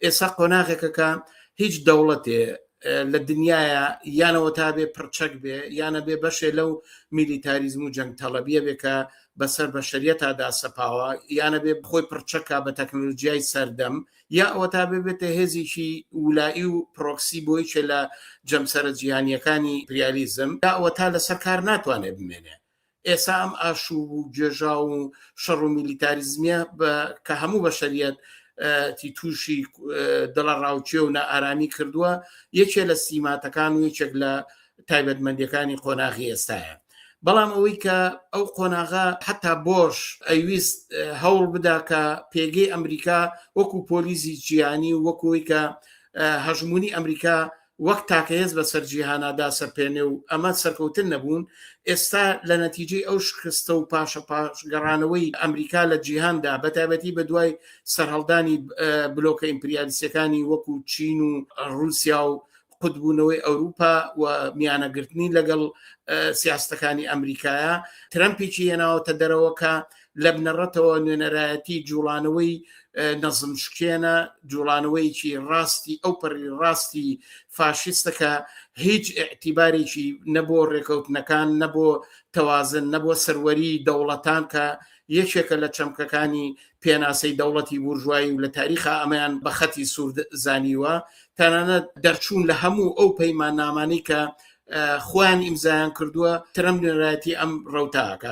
ئێستا قۆناغێکە کە هیچ دەوڵەتێ لە دنیاە یانەوە تا بێ پرچەک بێ یانە بێ بەشێ لەو میلیتاریزم و جەنگ تەڵەبیە بێ کە بەسەر بە شەریەتادا سەپاوە یانە بێ بخۆی پرچەکە بە تەکنۆلژیای سەردەم یا ئەوە تا بێ بێتە هێزیی ولایی و پرۆکسی بۆیچێ لە جەمسەرە جیهانیەکانی پریالیزم داوە تا لەسەر کار ناتوانێت بمێنێ ئێسا ئەم ئاشوب و گێژا و شەڕ و میلیتاریزمیە کە هەموو بەشەریەت تی تووشی دڵە ڕاوچێ و نائارامی کردووە یەکێ لە سیماتەکان و یەکێک لە تایبەتمەندەکانی قۆناغی ئێستاە بەڵام ئەوەی کە ئەو قۆناغا حتا بۆش ئەویست هەوڵ بدا کە پێگەی ئەمریکا وەکو پۆلیزی جیانی وەکوی کە هەژمونی ئەمریکا وەک تاکە هێز بەسەر جیهانا داسەپێنێ و ئەمە سەرکەوتن نەبوون، ئێستا لە نەتیجەی ئەو شکستە و پاشە پاش گەڕانەوەی ئەمریکا لە جیهاندا بە تایبەتی بە دوای سەرهەڵدانی بلۆکە ئیمپریالیستیەکانی وەکو چین و ڕوسیا و قوتبوونەوەی ئەوروپا و میانەگرتنی لەگەڵ سیاستەکانی ئەمریکایە ترەمپیی هێناوەتە دەرەوەکە لە بنەڕەتەوە نوێنەرایەتی جوڵانەوەی نەزم شکێنە جوڵانەوەیکی ڕاستی ئەو پەری ڕاستی فاشیستەکە هیچ ئەتیبارێکی نەبوو ڕێکەوتنەکان نەبوو تەوازن نەبوو سەروەری دەوڵەتان کە یەکێکە لە چەمکەکانی پێناسەی دەوڵەتی بورژوایی و لە تاریخا ئەمەیان بە خەتی سوورد زانیوە تەنانەت دەرچوون لە هەموو ئەو پەیمان نامانی کە خۆیان ئیمزایان کردووە ترم نوێنەتی ئەم ڕوتاکە